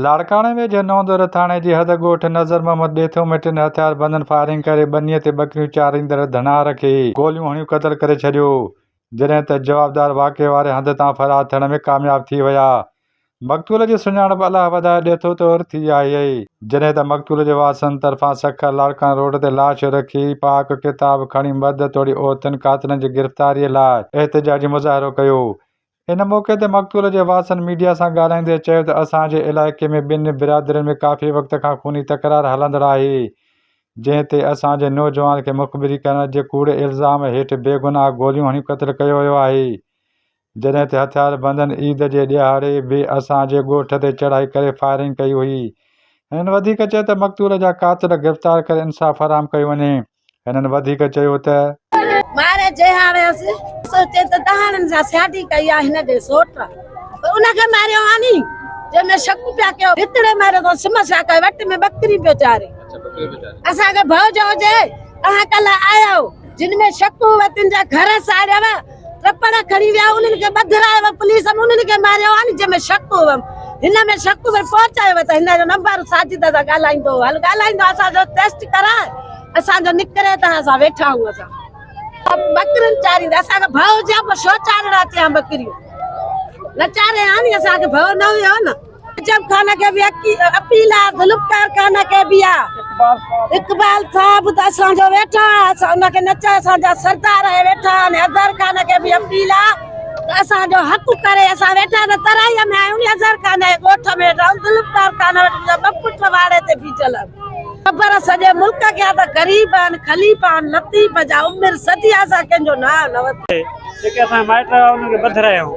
لاڙڪاڻي ۾ جنوندر ٿاڻي جي حد ڳوٺ نظر محمد ڏيٿو ۾ ٽن هٿياربندن فائرنگ ڪري ٻنيء تي ٻڪريون چاريندڙ ڌنار کي گوليون هڻي قتل ڪري ڇڏيو، جڏهن ته جوابدار واقعي واري هنڌ تان فرار ٿيڻ ۾ ڪامياب ٿي ويا. مقتول جي سڃاڻپ الله وڌائي ڏيٿو طور ٿي آهي. جڏهن ته مقتول جي وارثن طرفان سکر لاڙڪاڻي روڊ تي لاش رکي پاڪ ڪتاب کڻي مرد توڙي عورتن قاتلن جي گرفتاري لاء احتجاجي مظاهرو ڪيو، ان موقعي تي مقتول جي وارثن ميڊيا سان ڳالهائيندي چيو ته اسان جي علائقي ۾ ٻنهي برادرين ۾ ڪافي وقت کان خوني تڪرار هلندڙ آهي جنهن تي اسان جي نوجوان کي مخبري ڪرڻ جي ڪوڙي الزام هيٺ بيگناهه گوليون هڻي قتل ڪيو ويو آهي جڏهن ته هٿياربندن عيد جي ڏهاڙي به اسان جي ڳوٺ تي چڙهائي ڪري فائرنگ ڪئي هئي هنن وڌيڪ چيو ته مقتول جا قاتل گرفتار ڪري انصاف فراهم ڪيو وڃي. هنن وڌيڪ چيو ته. مارئي جهاڙيس، سوچين ته دهاڙن سان سياٽي ڪئي آ هن جي سوٽ، پر ان کي ماريو آني، جنهن ۾ شڪ پيا ڪيو، ڀتڙي ماريو اٿس، سم سا ڪئي، وٽ ۾ ٻڪري پيو چاري، اسان کي ڀؤ جو هجي، اوهان ڪلهه آيا هئو، جن ۾ شڪ هئو تن جا گهر ساڙيو آ، ٽپڙ کڻي ويا انهن کي ٻڌرايو ويو پوليس انهن کي ماريو آهن جنهن ۾ شڪ هو هن ۾ شڪ ۾ پهچايو ويو ته هن جو نمبر ساجد سان ڳالهائيندو هل ڳالهائيندو اسان جو ٽيسٽ ڪراء اسان جو نڪري ته اسان ويٺا آهيون اسان ٻڪرين چاريندا اسان کي ڀؤ جيان پوء شو چارڻا چيان ٻڪريون نه چاري آني اسان کي ڀؤ نه هيو نه عجب خان کي به اپيل آ ذوالفقار خان کي به آ اقبال صاحب ته اسان جو ويٺا اسان ان کي نچا اسان جا سردار آهي ويٺا ان اظهر خان کي به اپيل آ ته اسان جو حق ڪري اسان ويٺا ته ترائي ۾ آهيون ني اظهر خان جي ڳوٺ ۾ رهون ذوالفقار خان وٽ منهنجا ٻه پٽ واڙي تي بيٺل آهن خبر سڄي ملڪ کي آ ته غريب آهن خليفا آهن لطيف جا عمر صدي آ اسان ڪنهن جو نانء نه ورتو آهي جيڪي اسان جا مائٽ هئا انهن کي پڌرايائون.